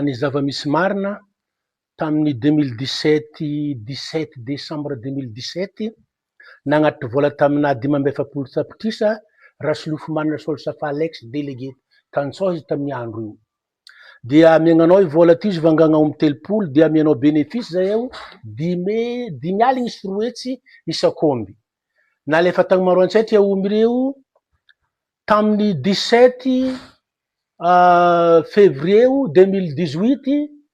Ny zava-misy marina Tamin'ny deux mille dix sept dix-sept desambra deux mille dix sept, nagnatitra vola taminà dimy amby efapolo tapitrisa Rasolofomanana Solsafa Alex, délégué tantsaha izy tamin'ny andro io. Dia amiagnanao io vola ity izy vangagna omby telopolo dia amianao bénéfice zay eo dimy dimy aligny sy roa hetsy isak'omby. Nalefa tagny Maroantsetra eo omby reo tamin'ny dix-sept février deux mille dix-huit.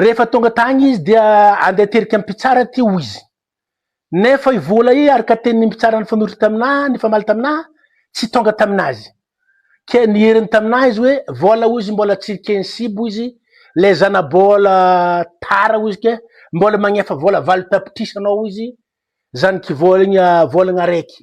Rehefa tonga tagny izy dia andeha terika mpitsara ty hoy izy. Nefa i vola i araka teny ny mpitsara nifanorotra taminà nifamaly taminà tsy tonga tamin'azy. Ke nieriny taminà izy hoe vola hoy izy mbola tsy ken sibo izy le zana bola tara hoy izy ke mbola magnefa vola valo tapitrisa anao hoy izy zany kivolagna volagna araiky.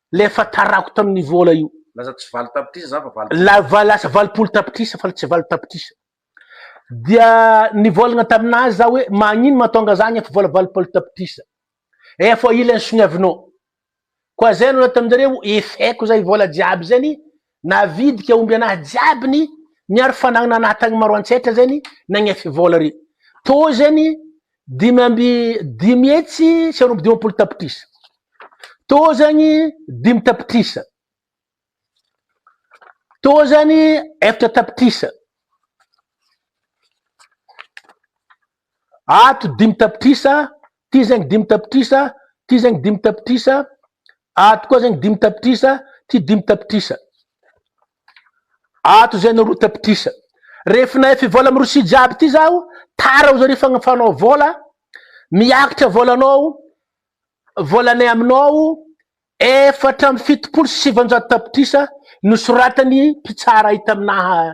Ilay efa tarako tamin'ny vola io. Lasa tsy valo tapitrisa za fa valo. Lava lasa valopolo tapitrisa fa tsy valo tapitrisa. Dia nivolagna tamin'azy za hoe magnino mahatonga za hagnefa vola valopolo tapitrisa. Efa ila ny soniavinao. Koa zay no nataonjareo, efeko zay vola jiaby zany Navidika omby anahy jiaby ny miaro fanagnana anahy tagny maro antsetra zegny nagnefy vola re to zegny dimy amby dimy hetsy sy roa amby dimampolo tapitrisa to zegny dimy tapitrisa to zegny efatra tapitrisa Ato dimy tapitrisa, ty zegny dimy tapitrisa, ty zegny dimy tapitrisa, ato koa zegny dimy tapitrisa, ty dimy tapitrisa. Ato zegny roa tapitrisa. Rehefa nahay fivola amin'ny Rosia jiaby ity zaho, tara hozy re fagnafanao vola, miakatra volanao, volanay aminao, efatra amby fitopolo sy sivinjato tapitrisa, nosoratan'ny mpitsara ahy taminaha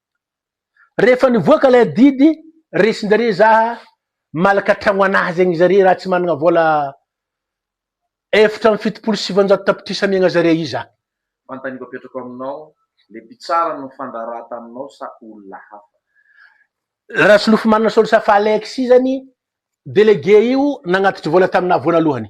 Rehefa nivoaka ilay adidy resin-jareo za malaka tragno anazy agny zare raha tsy managna vola efatra amby fitopolo sy sivanjato tapitrisa amiagna zare iza. Fantany io apetrako aminao le mpitsara no nifandraharaha taminao sa olona hafa? Rasolofomanana Saoly Safa Alexis zany délégué io nagnatitry vola taminah voalohany.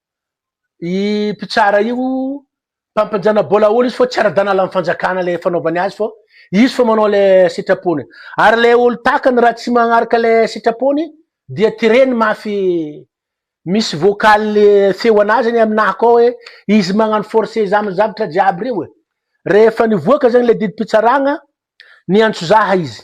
I mpitsara io mpampinjana bolaoly izy fô tsy ara-danala am fanjakana le fanaovany azy fô izy fô manao le sitrapony ary le olo takany raha tsy magnaraka le sitrapony dia tireny mafy misy vocal feo anah zegny aminah akao hoe izy magnano force za am zavatra jiaby reo e rehefa nivoaka zegny le didim-pitsaragna niantso zah izy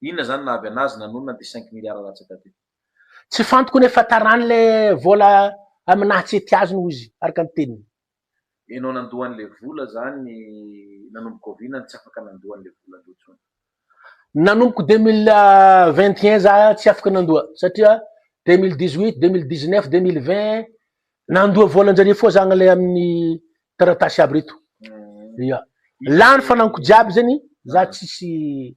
Inona zany nahavy anazy nanonona de cinq milliards latsaka be. Tsy fantoko ny afatarany le vola aminah tsy ety azony ozy araka ny teniny. Enao nandoa anle vola zany nanomboka oviana no tsy afaka nandoa anle vola andreo tsony. Nanomboka deux mille vingt et un za tsy afaka nandoa satria deux mille dix huit, deux mille dix neuf, deux mille vingt nandoa volanjareo foa za anle aminy taratasy aby reto. Ia. Lany fananiko jiaby zany za tsisy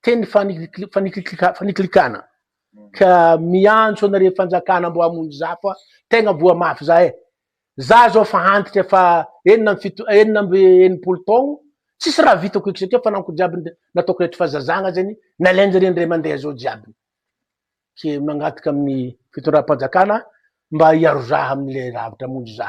Teny fanikliklikana ka miantso anareo fanjakana mbo hamonjy za fa tegna voa mafy za e! za zao fa antitra efa enina amby fito enina amby enimpolo taogno tsisy raha vitako eky satria fananko jiaby nataoko eto fa zazagna zegny nalainjare ndray mandeha zao jiaby ke mangataka amin'ny fitondram-panjakana mba hiaro za amle ravitra hamonjy za.